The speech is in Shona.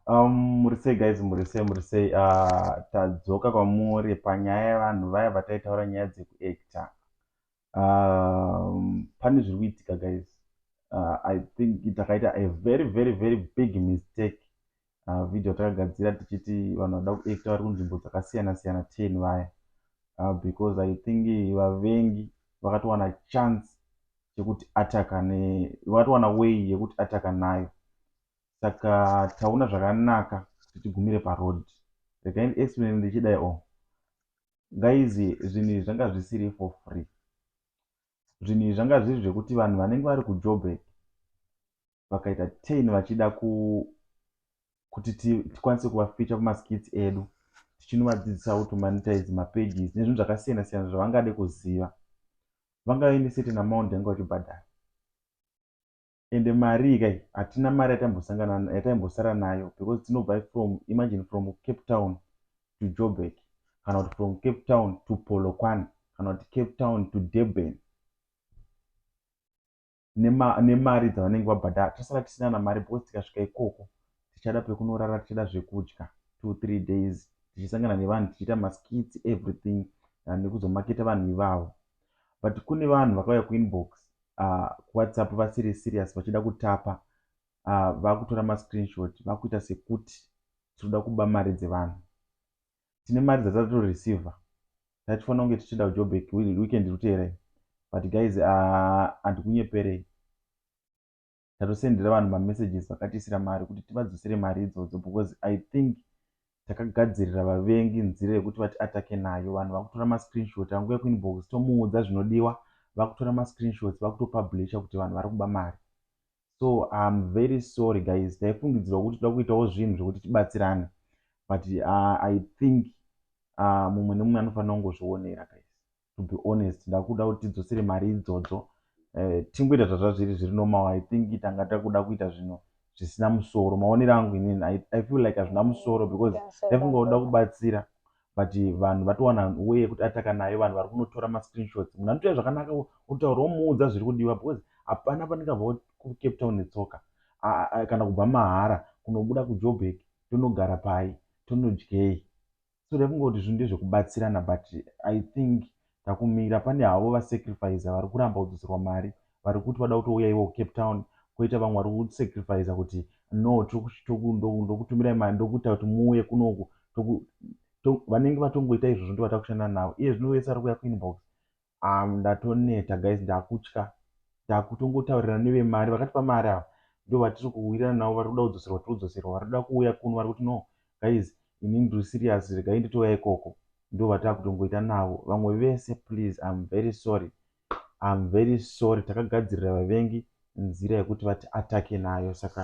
Um, muri sei guys muri sei muri sei uh, tadzoka kwamuri panyaya yevanhu vaya vataitaura nyaya dzekuacta um, pane zviri kuitika guys uh, i think takaita a very very very big mistake uh, video takagadzira tichiti vanhu vada kuacta vari kunzvimbo dzakasiyana siyana ten vaya uh, because i think vavengi vakatowana chance chekuti ataka ne vakatowana way yekuti ataka nayo saka taona zvakanaka kuti tigumire paroad regai explain ndichidai o oh. guys zvinhu izvi zvanga zvisiri for free zvinhu izvi zvanga zviri zvekuti vanhu vanenge vari kujoburg vakaita tain vachida ku kuti tikwanise kuvaficha kumaskits edu tichinovadzidzisa how to monetize mapages nezvinhu zvakasiyana siyana zvavangade kuziva vanga vaine certain amount yanga vachibhadhara ende mari ikai hatina mari yataimbosangana yataimbosara nayo because tinobva from imagine from cape town to joburg kana kuti from cape town to polokwane kana kuti cape town to durban nemari dzavanenge vabhadhara tosara tisina kana mari because tikasvika ikoko tichada pekunorara tichada zvekudya two three days tichisangana nevanhu tichiita maskits everything ah, nekuzomaketa vanhu ivavo but kune vanhu vakauya kuinbox ah, kuwhatsapp vasiri serious vachida kutapa ah, vakutora mascreenshot vakuita sekuti tiri kuda kuba mari dzevanhu tine mari dzatato receiver tatifanira kunge tichienda kujobek weekend iri kuteera iyi but guys handikunyeperei ah, tatosendera vanhu mamessages vakatiisira mari kuti tivadzosere mari idzodzo because i think takagadzirira vavengi nzira yekuti vati atake nayo vanhu vakutora mascreenshot anguya kuinbox tomuudza zvinodiwa vakutora mascreenshots vakutopublisha kuti vanhu vari kuba mari so im very sorry guys taifungidzirwa kuti toda kuitawo zvinhu zvekuti tibatsirane but uh, i think uh, mumwe nemumwe anofanira kungozvionera guys to be honest ndakuda kuti tidzosere mari idzodzo uh, tingoita zvazvazviri zviri normal i think tanga takuda kuita zvinhu zvisina musoro maonero angu inini I, i feel like hazvina musoro because taifunga kuda kubatsira but vanhu vatowana way yekuti ataka nayo vanhu vari kunotora mascreenshots munhu anotoya zvakanaka otaura omuudza zviri kudiwa because hapana pandingabva kucape town netsoka kana kubva mahara kunobuda kujobek tonogara pai tonodyei so rekungoti zvinhu ndezvekubatsirana but i think Takumira pane havo va sacrificer vari kuramba kudzoserwa mari vari kuti vada kutouya ivo ku Cape Town koita vamwe vari ku sacrificer kuti no ndokutumirai mari ndokuita kuti muuye kuno uku toku to vanenge vatongoita izvozvo ndivo vatava kushanda navo iye zvino vese vari kuuya ku inbox um ndatoneta guys ndakutya ndakutongotaurira neve mari vakatipa mari ava ndivo vatiri kuwirirana navo vari kuda kudzoserwa tiri kudzoserwa vari kuda kuuya kuno vari kuti no guys ini ndiri serious regai nditouya ikoko ndovatakutongoita navo vamwe vese please I'm very sorry I'm very sorry takagadzirira vavengi nzira yekuti vati atake nayo saka